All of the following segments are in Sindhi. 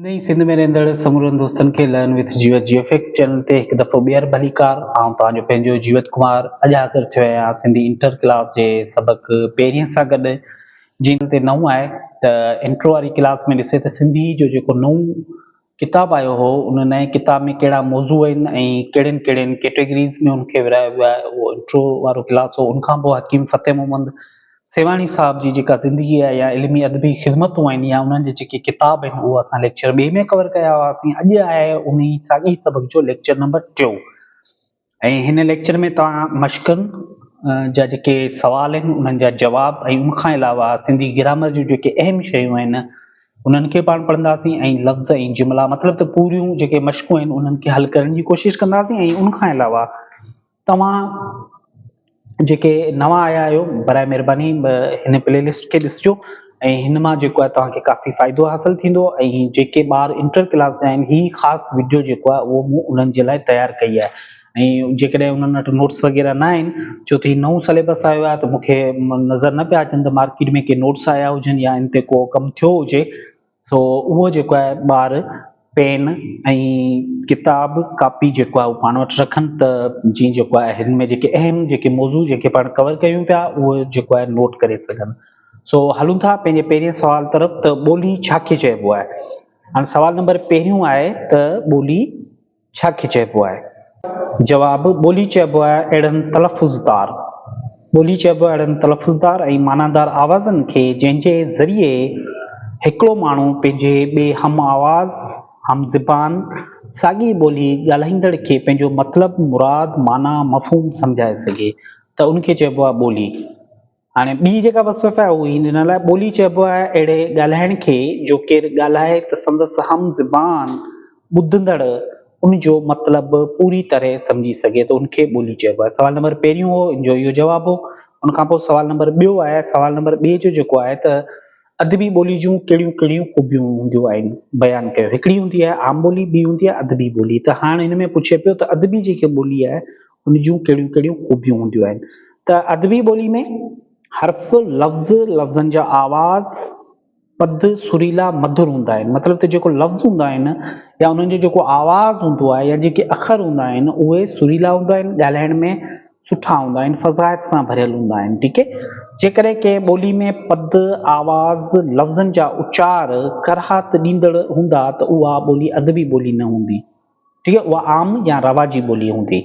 نئين سنڌ ۾ رهندڙ سمورن دوستن کي لئن وٿ جيوت جي ايف ايڪس چينل تي هڪ دفعو ٻيهر ڀليڪار آئون توهان جو پنهنجو جيوت ڪمار اڄ حاضر ٿيو آهيان سنڌي انٽر ڪلاس جي سبق پهرين سان گڏ جي تي نئون آهي ته انٽرو واري ڪلاس ۾ ڏسي ته سنڌي جو جيڪو نئون ڪتاب آيو هو ان نئين ڪتاب ۾ ڪهڙا موضوع آهن ۽ ڪهڙين ڪهڙين ڪيٽيگريز ۾ ان کي ورهايو ويو آهي اهو انٽرو وارو ڪلاس هو ان کان پوء حڪيم فتح محمد سيوهاڻي صاحب جي جيڪا زندگي آهي يا علمي ادبي خدمتون آهن يا انهن جا جيڪي ڪتاب آهن اهو اسان ليڪچر ٻئي ۾ ڪور ڪيا هئاسين اڄ آهي انهي ساڳئي سبق جو ليڪچر نمبر ٽيون ۽ هن ليڪچر ۾ توهان مشقن جا جيڪي سوال آهن انهن جا جواب ۽ ان کان علاوه سنڌي گرامر جون جيڪي اهم شيون آهن انهن کي پاڻ پڙهنداسين ۽ لفظ ۽ جملا مطلب ته پوريون جيڪي مشقون آهن انهن کي حل ڪرڻ جي ڪوشش ڪنداسين ۽ ان کان علاوه توهان جيڪي نوان آيا آهيو برائي مهرباني هن پلي لسٽ کي ڏسجو ۽ هن مان جيڪو آهي توهان کي ڪافي فائدو حاصل ٿيندو ۽ جيڪي ٻار انٽر ڪلاس جا آهن هي خاص وڊيو جيڪو آهي اهو مون انهن جي لاء تيار ڪئي آهي ۽ جيڪڏهن انهن وٽ نوٽس وغيره نه آهن ڇو ته هي نئون سليبس آيو آهي ته مونکي نظر نه پيا اچن ته مارڪيٽ ۾ ڪي نوٽس آيا هجن يا ان تي ڪو ڪم ٿيو هجي سو اهو جيڪو آهي ٻار پين ۽ ڪتاب ڪاپي جيڪو آهي اهو پاڻ وٽ رکن ته جيئن جيڪو آهي هن ۾ جيڪي اهم جيڪي موضوع جيڪي پاڻ ڪور ڪيون پيا اهو جيڪو آهي نوٽ ڪري سگهن سو هلون ٿا پنهنجي پهرين سوال طرف ته ٻولي ڇا کي چئبو آهي هاڻي سوال نمبر پهريون آهي ته ٻولي ڇا کي چئبو آهي؟ جواب، ٻولي چئبو آهي اهڙن تلفظ دار ٻولي چئبو آهي اهڙن تلفظ دار ۽ معنيدار آوازن کي جنهن جي ذريعي هڪڙو ماڻهو پنهنجي ٻئي هم آواز، هم زبان، ساڳي ٻولي ڳالهائيندڙ کي پنهنجو مطلب، مراد، معنيٰ، مفهوم سمجهائي سگهي ته ان کي چئبو آهي ٻولي. هاڻي ٻي جيڪا وصف آهي اهو هي ڏنل آهي، ٻولي چئبو آهي اهڙي ڳالهائڻ کي جو ڪير ڳالهائي ته سندس هم زبان، ٻڌندڙ، ان جو مطلب پوري طرح سمجهي سگهي ته ان کي ٻولي چئبو آهي. سوال نمبر پهريون هو ان جو اهو جواب هو. ان کان پوء سوال نمبر ٻيو آهي، سوال نمبر ٻئي جو جيڪو آهي ته ادبي ٻولي جون ڪهڙيون ڪهڙيون خوبيون هونديون آهن بيان ڪيو. هڪڙي هوندي آهي عام ٻولي، ٻي هوندي آهي ادبي ٻولي ته هاڻ هن ۾ پڇي پيو ته ادبي جيڪي ٻولي آهي ان جون ڪهڙيون ڪهڙيون خوبيون هونديون آهن ته ادبي ٻولي ۾ حرف، لفظ، لفظن جا آواز، پد، سريلا، مڌر هوندا آهن. مطلب ته جيڪو لفظ هوندا آهن يا انهن جو جيڪو آواز هوندو آهي يا جيڪي اکر هوندا آهن اهي سريلا هوندا آهن، ڳالهائڻ ۾ سٺا هوندا آهن، فصاحت سان ڀريل هوندا آهن. ٺيڪ هي. جيڪڏهن ڪنهن ٻولي ۾ پد، آواز، لفظن جا اچار ڪراهت ڏيندڙ هوندا ته اها ٻولي ادبي ٻولي نه هوندي. ٽيئي، اها عام يا رواجي ٻولي هوندي.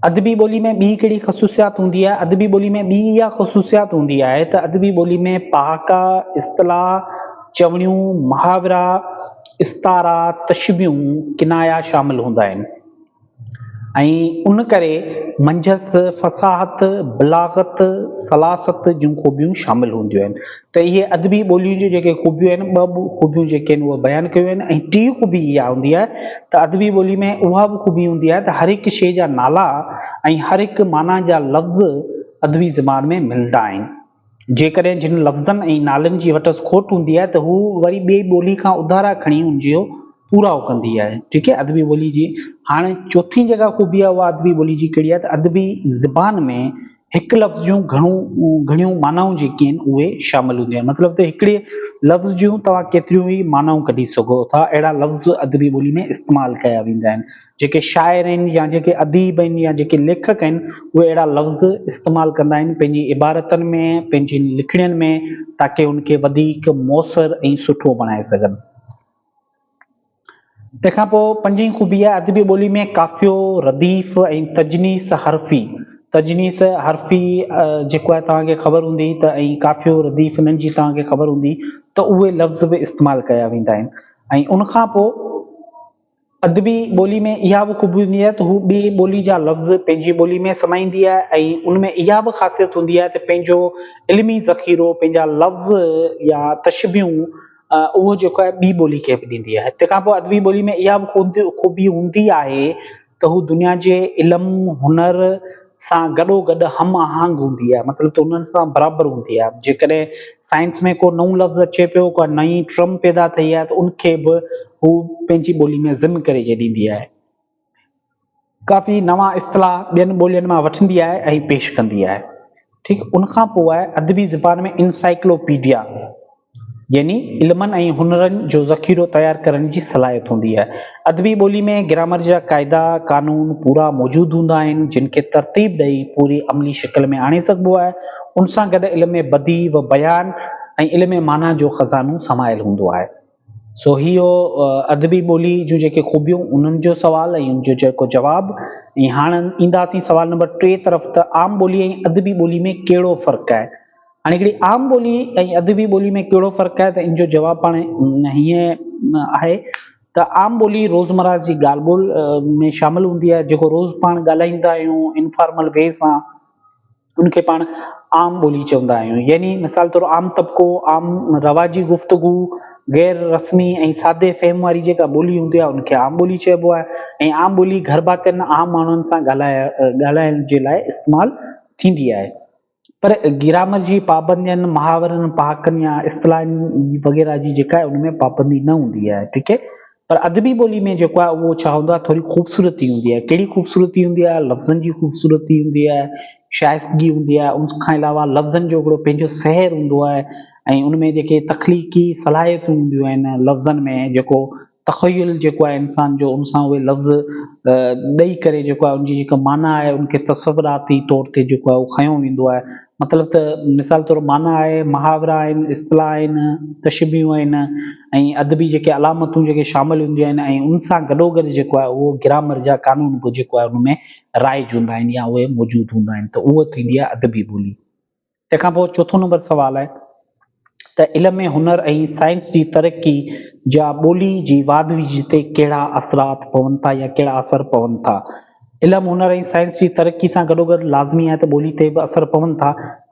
ادبي ٻولي ۾ ٻي ڪهڙي خصوصيات هوندي آهي؟ ادبي ٻولي ۾ ٻي اها خصوصيات هوندي آهي ته ادبي ٻولي ۾ پهاڪا، اصطلاح، چوڻيون، محاورا، استعارا، تشبيهون، ڪنايا شامل هوندا آهن ۽ ان ڪري منجهس فصاحت، بلاغت، سلاست جون خوبيون شامل هونديون آهن. ته اهي ادبي ٻوليء جون جيڪي خوبيون آهن، ٻه خوبيون جيڪي آهن اهي بيان ڪيون آهن ۽ ٽين خوبي اها هوندي آهي ته ادبي ٻوليء ۾ اها به خوبي هوندي آهي ته هر هڪ شيء جا نالا ۽ هر هڪ معنيٰ جا لفظ ادبي زبان ۾ ملندا آهن. جيڪڏهن جن لفظن ۽ نالن جي وٽس کوٽ هوندي آهي ته هو وري ٻئي ٻوليء کان اڌارا کڻي ان جو پورائو ڪندي آهي. ٺيڪ آهي ادبي ٻوليء جي هاڻي چوٿين جيڪا خوبي آهي اها ادبي ٻوليء جي ڪهڙي آهي ته ادبي زبان ۾ هڪ لفظ جون گهڻيون معنائون جيڪي آهن اهي شامل هونديون آهن مطلب ته هڪڙي لفظ جون توهان ڪيتريون ئي معنائون ڪڍي سگهو ٿا اهڙا لفظ ادبي ٻولي ۾ استعمال ڪيا ويندا آهن جيڪي شاعر آهن يا جيڪي اديب آهن يا جيڪي ليکڪ آهن اهي اهڙا لفظ استعمال ڪندا آهن پنهنجي عبارتن ۾ پنهنجين لکڻين ۾ تاڪي ان کي وڌيڪ موثر ۽ سٺو بڻائي سگهن. تنهن کان پوء پنجين خوبي آهي ادبي ٻوليء ۾ قافيو، رديف ۽ تجنيس حرفي، تجنيس حرفي جيڪو آهي توهان کي خبر هوندي ته ۽ قافيو، رديف انهن جي توهان کي خبر هوندي ته اهي لفظ به استعمال ڪيا ويندا آهن ۽ ان کان پوء ادبي ٻوليء ۾ اها به خوبي هوندي آهي ته هو ٻي ٻوليء جا لفظ پنهنجي ٻوليء ۾ سمائيندي آهي ۽ ان ۾ اها به خاصيت هوندي آهي ته پنهنجو علمي ذخيرو، پنهنجا لفظ يا تشبيهون، اهو جيڪو آهي ٻي ٻولي کي به ڏيندي آهي. تنهن کان پوء ادبي ٻولي ۾ اها به خوبي خوبي هوندي آهي ته هو دنيا جي علم هنر سان گڏو گڏ هم آهنگ هوندي آهي مطلب ته انهن سان برابر هوندي آهي جيڪڏهن سائنس ۾ ڪو نئون لفظ اچي پيو ڪا نئين ٽرم پيدا ٿئي آهي ته ان کي به هو پنهنجي ٻولي ۾ ضم ڪري ڏيندي آهي ڪافي نوان اصطلاح ٻين ٻولين مان وٺندي آهي ۽ پيش ڪندي آهي ٺيڪ ان کان پوء ادبي زبان ۾ انسائيڪلو پيڊيا يعني علمن ۽ هنرن جو ذخيرو تيار ڪرڻ جي صلاحيت هوندي آهي ادبي ٻولي ۾ گرامر جا قاعدا قانون پورا موجود هوندا آهن جن کي ترتيب ڏئي پوري عملي شڪل ۾ آڻي سگهبو آهي ان سان گڏ علم ۾ بديع و بيان ۽ علم معنيٰ جو خزانو سمايل هوندو آهي سو هي هو ادبي ٻولي جون جيڪي خوبيون انهن جو سوال ۽ ان جو جيڪو جواب ۽ هاڻ اينداسين سوال نمبر ٽي طرف ته عام ٻولي ۽ ادبي ٻولي ۾ ڪهڙو فرق آهي؟ هاڻي هڪڙي عام ٻولي ۽ ادبي ٻولي ۾ ڪهڙو فرق آهي ته ان جو جواب پاڻ هيئن آهي ته عام ٻولي روزمرهه جي ڳالهه ٻولهه ۾ شامل هوندي آهي جيڪو روز پاڻ ڳالهائيندا آهيون انفارمل وي سان ان کي پاڻ عام ٻولي چوندا آهيون يعني مثال طور عام طبقو، عام رواجي گفتگو، غير رسمي ۽ سادي فهم واري جيڪا ٻولي هوندي آهي ان کي عام ٻولي چئبو آهي ۽ عام ٻولي گهر ڀاتين عام ماڻهن سان ڳالهائڻ جي لاء استعمال ٿيندي آهي پر گرامر جي پابندين محاورن پهاڪن يا اصطلاحن وغيره جي جيڪا آهي ان ۾ پابندي نه هوندي آهي ٺيڪ آهي پر ادبي ٻولي ۾ جيڪو آهي اهو ڇا هوندو آهي ٿوري خوبصورتي هوندي آهي، ڪهڙي خوبصورتي هوندي آهي، لفظن جي خوبصورتي هوندي آهي، شائستگي هوندي آهي، ان کان علاوه لفظن جو هڪڙو پنهنجو سحر هوندو آهي ۽ ان ۾ جيڪي تخليقي صلاحيتون هونديون آهن لفظن ۾ جيڪو تخيل جيڪو آهي انسان جو ان سان اهي لفظ ڏئي ڪري جيڪو آهي ان جي جيڪا معنيٰ آهي ان کي تصوراتي طور تي جيڪو آهي اهو کنيو ويندو آهي مطلب ته مثال طور معنيٰ آهي، محاورا آهن، اصطلاح آهن، تشبيهون آهن ۽ ادبي جيڪي علامتون جيڪي شامل هونديون آهن ۽ ان سان گڏوگڏ جيڪو آهي اهو گرامر جا قانون به جيڪو آهي ان ۾ رائج هوندا آهن يا اهي موجود هوندا آهن ته اهو ٿيندي آهي ادبي ٻولي. تنهن کان پوء چوٿون نمبر سوال آهي. ته علم ۽ هنر ۽ سائنس جي ترقي جا ٻولي جي واڌويجهه تي ڪهڙا اثرات پون ٿا يا ڪهڙا اثر پون ٿا. علم، هنر ۽ سائنس جي ترقي سان گڏوگڏ لازمي آهي ته ٻولي تي به اثر پون ٿا.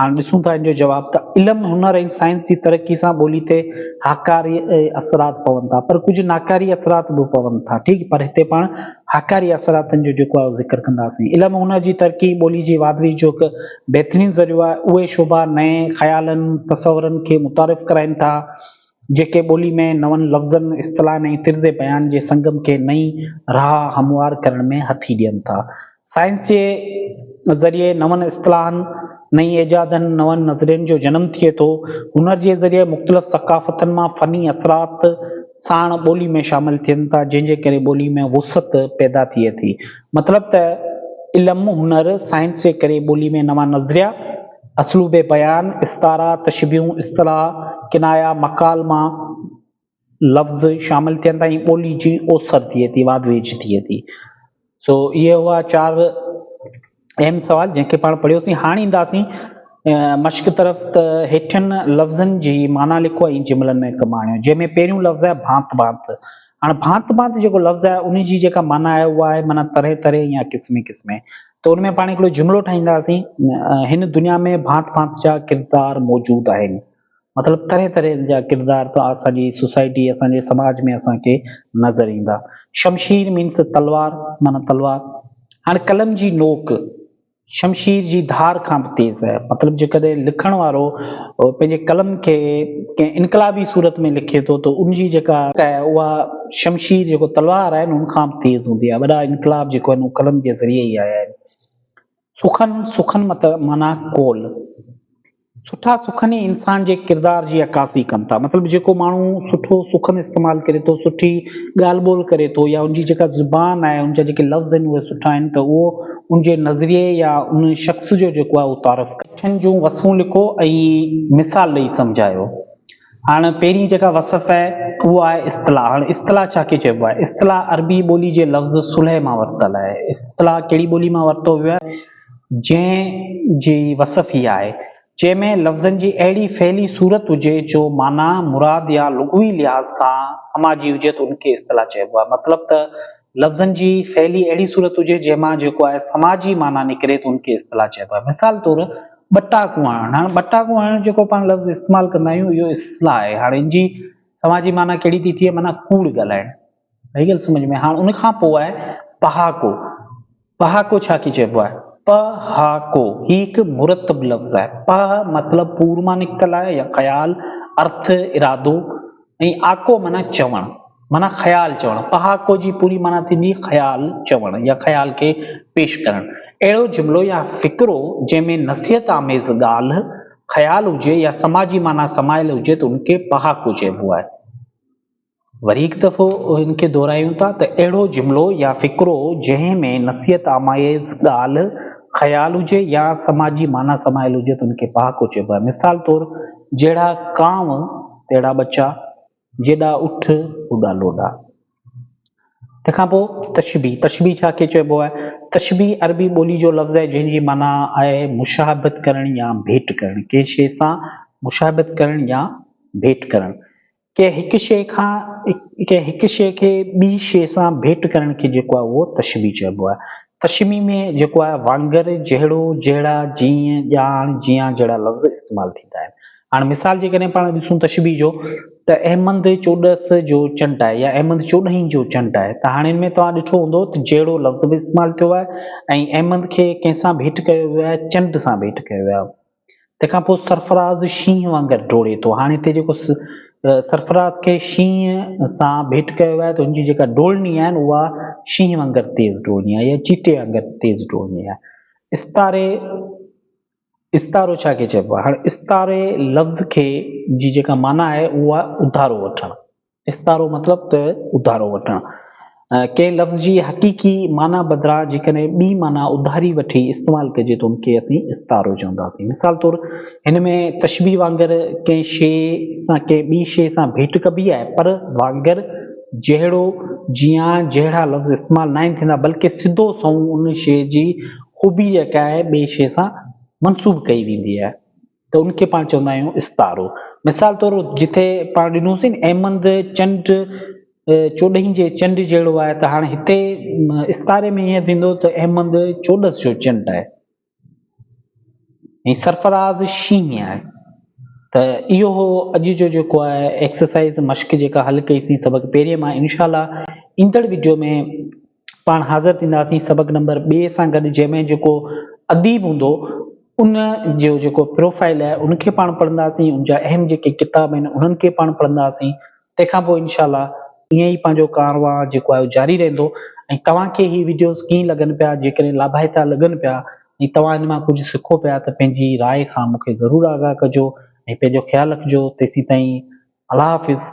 هاڻ ڏسون ٿا ان جو جواب ته علم، هنر ۽ سائنس جي ترقي سان ٻولي تي هاڪاري اثرات پون ٿا پر ڪجهه ناڪاري اثرات به پون ٿا ٺيڪ پر هتي پاڻ هاڪاري اثراتن جو جيڪو آهي اهو ذڪر ڪنداسين. علم هنر جي ترقي ٻولي جي واڌويجهه جو هڪ بهترين ذريعو آهي، اهي شعبا نئين خيالن، تصورن کي متعارف ڪرائين ٿا، جيڪي ٻولي ۾ نون لفظن، اصطلاحن ۽ طرز بيان جي سنگم کي نئين راهه هموار ڪرڻ ۾ هٿي ڏين ٿا. سائنس جي ذريعي نون اصطلاحن، نئين ايجادن، نون نظرين جو جنم ٿئي ٿو. هنر جي ذريعي مختلف ثقافتن مان فني اثرات ساڻ ٻولي ۾ شامل ٿين ٿا، جنهن جي ڪري ٻولي ۾ وسعت پيدا ٿئي ٿي. مطلب ته علم، هنر، سائنس جي ڪري ٻولي ۾ نوان نظريا، اسلوب بيان، استعارا، تشبيهون، اصطلاح، ڪنايا، مڪالما، لفظ شامل ٿين ٿا ۽ ٻولي جي اوسر ٿئي ٿي، واڌ ويجهه ٿئي ٿي. سو اهي هئا چار اهم سوال جنهن کي پاڻ پڙهيوسين. هاڻ اينداسين مشق طرف ته هيٺين لفظن جي معنيٰ لکو ۽ جملن ۾ ڪم آڻيو. جنهن ۾ پهريون لفظ آهي ڀانت ڀانت. هاڻ ڀانت ڀانت جيڪو لفظ آهي ان جي جيڪا معنيٰ آهي اها آهي معنيٰ طرح طرح يا قسمي قسمي ته ان ۾ پاڻ هڪڙو جملو ٺاهينداسين هن دنيا ۾ ڀانت ڀانت جا ڪردار موجود آهن مطلب طرح طرح جا ڪردار ته اسان جي سوسائٽي اسان جي سماج ۾ اسان کي نظر ايندا شمشير مينس تلوار معنيٰ تلوار هاڻ قلم جي نوڪ شمشير جي ڌار کان به تيز آهي. مطلب جيڪڏهن لکڻ وارو پنهنجي قلم کي ڪنهن انقلابي صورت ۾ لکي ٿو ته ان جي جيڪا اها شمشير جيڪو تلوار آهي ان کان به تيز هوندي آهي. وڏا انقلاب جيڪو آهن اهي قلم جي ذريعي ئي آيا آهن. سخن، سخن معنيٰ قول. سٺا سخن ئي انسان جي ڪردار جي عڪاسي ڪن ٿا. مطلب جيڪو ماڻهو سٺو سخن استعمال ڪري ٿو، سٺي ڳالهه ٻولهه ڪري ٿو يا ان جي جيڪا زبان آهي، ان جا جيڪي لفظ آهن اهي سٺا آهن ته اهو ان جي نظريي يا ان شخص جو جيڪو آهي اهو تعارف ڪري. اٺن جون وصفون لکو ۽ مثال ڏئي سمجهايو. هاڻ پهرين جيڪا وصف آهي اهو آهي اصطلاح. هاڻ اصطلاح ڇا کي چئبو آهي؟ اصطلاح عربي ٻولي جي لفظ صلح مان ورتل آهي. اصطلاح ڪهڙي ٻولي مان ورتو ويو آهي؟ جنهن جي وصف هي آهي. جنهن ۾ لفظن جي اهڙي فعلي صورت هجي جو معنيٰ، مراد يا لغوي لحاظ کان سماجي هجي ته ان کي اصطلاح چئبو آهي. مطلب ته لفظن جي ڦهلي اهڙي صورت هجي جنهن مان جيڪو آهي سماجي معنيٰ نڪري ته ان کي اصطلاح چئبو آهي. مثال طور ٻٽاڪون هڻڻ، هاڻ ٻٽاڪون هڻڻ جيڪو پاڻ لفظ استعمال ڪندا آهيون اهو اصطلاح آهي. هاڻ ان جي سماجي معنيٰ ڪهڙي ٿي ٿئي معنيٰ ڪوڙ ڳالهائڻ. آئي ڳالهه سمجهه ۾ هاڻ ان کان پوء آهي پهاڪو. پهاڪو ڇا کي چئبو آهي؟ پ ه ڪو، هي هڪ مرتب لفظ آهي. پ ه مطلب پور مان نڪتل آهي يا خيال، ارٿ، ارادو ۽ آڪو معنيٰ چوڻ، معنيٰ خيال چوڻ. پهاڪو جي پوري معنيٰ ٿيندي خيال چوڻ يا خيال کي پيش ڪرڻ. اهڙو جملو يا فقرو جنهن ۾ نصيحت آميز ڳالهه، خيال هجي يا سماجي معنيٰ سمايل هجي ته ان کي پهاڪو چئبو آهي. وري هڪ دفعو ان کي دهرايون ٿا ته اهڙو جملو يا فقرو جنهن ۾ نصيحت آمايز ڳالهه، خيال هجي يا سماجي معنيٰ سمايل هجي ته ان کي پهاڪو چئبو آهي. مثال طور، جهڙا ڪانء تهڙا ٻچا، جيڏا اٺ اوڏا لوڏا. تنهن کان پوء تشبيهه، تشبيهه ڇا کي چئبو آهي؟ تشبيهه عربي ٻولي جو لفظ آهي جنهن جي معنيٰ آهي مشاهبت ڪرڻ يا ڀيٽ ڪرڻ، ڪنهن شيء سان مشاهبت ڪرڻ يا ڀيٽ ڪرڻ. ڪنهن هڪ شيء کان ڪنهن هڪ شيء کي ٻي شيء سان ڀيٽ ڪرڻ کي جيڪو آهي اهو تشبيهه چئبو آهي. تشبيهه ۾ جيڪو آهي وانگر، جهڙو، جهڙا، جيئن، ڄاڻ، جيان جهڙا لفظ استعمال ٿيندا آهن. هاڻ مثال جيڪڏهن پاڻ ڏسون تشبيهه جو ته احمد چوڏس جو چنٽ آهي يا احمد چوڏهين جو چنٽ آهي ته هاڻي ان ۾ توهان ڏٺو هوندو ته جهڙو لفظ به استعمال ٿيو آهي ۽ احمد کي ڪنهن سان ڀيٽ ڪيو ويو آهي چنڊ سان ڀيٽ ڪيو ويو آهي. تنهن کان پوء سرفراز شينهن وانگر ڊوڙي ٿو. هاڻي هتي جيڪو سرفراز کي شينهن سان ڀيٽ ڪيو آهي ته هن جي جيڪا ڊوڙڻي آهي اها شينهن وانگر تيز ڊوڙڻي آهي يا چيتي وانگر تيز ڊوڙڻي آهي. استاري، استارو ڇا کي چئبو آهي؟ هاڻي استاري لفظ کي جي جيڪا معنيٰ آهي اها آهي اڌارو وٺڻ. استعارو مطلب ته اڌارو وٺڻ. ڪنهن لفظ جي حقيقي معنيٰ بدران جيڪڏهن ٻي معنيٰ اڌاري وٺي استعمال ڪجي ته ان کي اسين استعارو چونداسين. مثال طور هن ۾ تشبيهه وانگر ڪنهن شيء سان ڪنهن ٻي شيء سان ڀيٽ ڪبي آهي پر وانگر، جهڙو، جيان جهڙا لفظ استعمال ناهن ٿيندا بلڪه سڌو سنئون ان شيء جي خوبي جيڪا آهي ٻي شيء سان منسوب ڪئي ويندي آهي. ته ان کي پاڻ چوندا آهيون استارو. مثال طور جتي پاڻ ڏنوسين نه احمد چنڊ چوڏهين جي چنڊ جهڙو آهي ته هاڻي هتي استاري ۾ ائين ٿيندو ته احمد چوڏس جو چنڊ آهي ۽ سرفراز شينهن آهي ته اهو هو اڄ جو جيڪو آهي ايڪسرسائز مشق جيڪا حل ڪئيسين سبق پهرين مان انشاء الله ايندڙ ويڊيو ۾ پاڻ حاضر ٿينداسين سبق نمبر ٻئي سان گڏ جنهن ۾ جيڪو اديب هوندو ان جو جيڪو پروفائل آهي ان کي پاڻ پڙهنداسين ان جا اهم جيڪي ڪتاب آهن انهن کي پاڻ پڙهنداسين تنهنکان پوء انشاء الله ائين ئي پنهنجو ڪارواء جيڪو آهي جاري رهندو ۽ توهان کي هي ويڊيوز ڪيئن لڳن پيا جيڪڏهن لاڀائتا لڳن پيا ۽ توهان ان مان ڪجهه سکو پيا ته پنهنجي راء کان مون کي ضرور آگاهه ڪجو ۽ پنهنجو خيال رکجو تيسين تائين الله حافظ